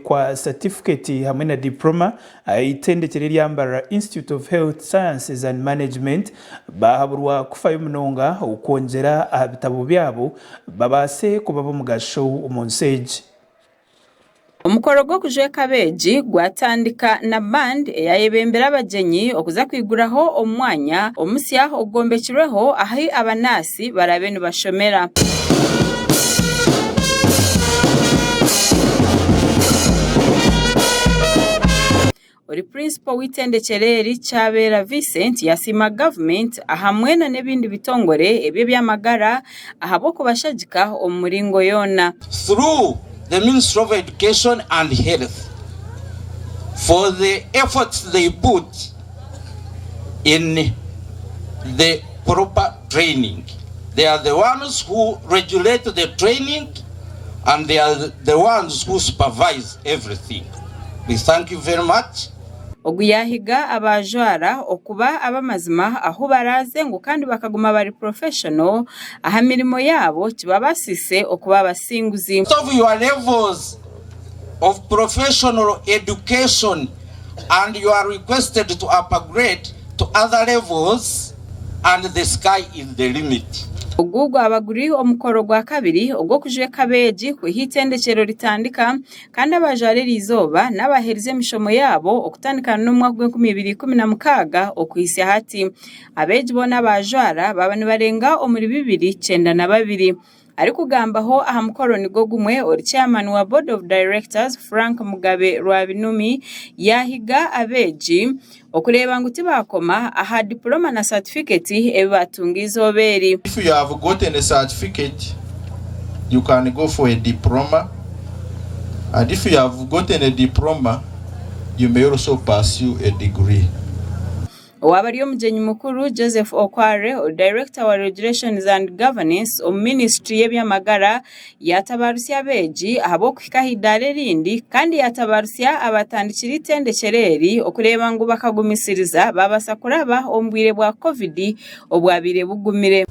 kwa satifiketi hamwe na dipuroma aha itendekero eryambarira Institute of Health Sciences and Management baahaburwa kufayo munonga okwongyera aha bitabo byabo babaase kuba b'omugasho omu nsi egi. Omukoro gw'okujweka abeegi gwatandika na band eyayebembire abagyenyi okuza kwiguraho omu mwanya omusya ogugombekirweho ahu abanaasi. ahansi barabe nibashomera. Ori Purinsipo w'eitendekyero eri Kyabeera Vincent yasiima gavumenti ahamwe nana ebindi bitongore eby'ebyamagara ahabw'okubashagika omu miringo yoona. through the Ministry of Education and Health for the efforts they put in the proper training they are the ones who regulate the training and they are the ones who supervise everything we thank you very much. Ogu yaahiga abaajwara okuba ab'amazima ahu baraaze ngu kandi bakaguma bari professional aha mirimo yaabo kibabaasiise okuba abasinguzi. Out of your levels of professional education and you are requested to upgrade to other levels and the sky is the limit. Ogu gwaba guri omukoro gwa kabiri ogw'okujweka abeegi ku hi eitendekyero ritandika kandi abajwara eri izooba n'abaherize emishomo yaabo okutandikana n'omwaka gw'enkumi ibiri ikumi na mukaaga okuhitsya hati. Abeegi boona abaajwara baaba nibarenga omuri bibiri kyenda na babiri. Arikugambaho aha mukoro nigwo gumwe, ori chairman wa board of directors Frank Mugabe Rwabinumi yaahiga abeegi okureeba ngu tibaakoma aha diploma na satifiketi ebi baatunga eizooba eri. If you have gotten a certificate, you can go for a diploma and if you have gotten a diploma, you may also pursue a degree. Owaaba ari omugyenyi mukuru, Joseph Okware, Director wa Regulations and Governance omu ministry y'ebyamagara, yaatabarutsya abeegi ahabw'okuhika aha idaara erindi kandi yaatabarutsya abaatandikire eitendekyero eri okureeba ngu bakagumisiriza baabaasa kuraba omu bwire bwa covid obwabaire bugumire.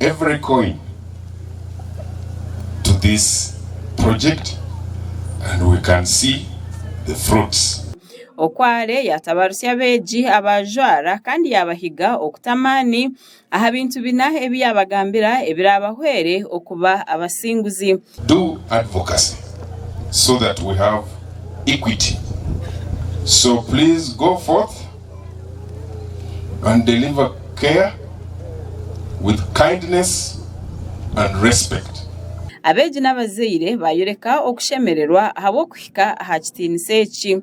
Every coin to this project and we can see the fruits. Okware yaatabarutsya abeegi abaajwara kandi yaabahiga okuta amaani aha bintu bina ebi yaabagambira ebiraabahwere okuba abasinguzi. Do advocacy so that we have equity so please go forth and deliver care with kindness and respect. Abeegi n'abazaire baayoreka okushemererwa ahabw'okuhika aha kitiinisa eki.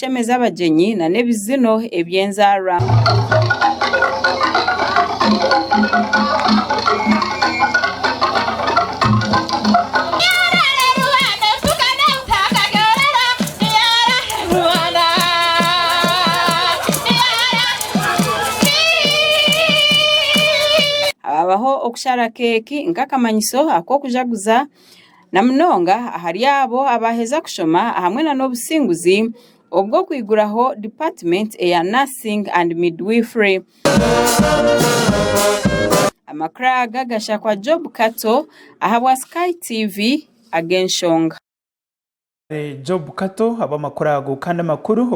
kutemeza abagyenyi na n'ebizino eby'enzaarwa. Haabaho okushara keeki nk'akamanyiso ak'okujaguza. na munonga ahari abo abaaheza kushoma ahamwe na n'obusinguzi obw'okwiguraho Department eya Nursing and Midwifery. Amakuru aga gashakwa Job Kato ahabwa Sky TV ag'enshonga. Job Kato ahabw'amakuru ago kandi amakuru.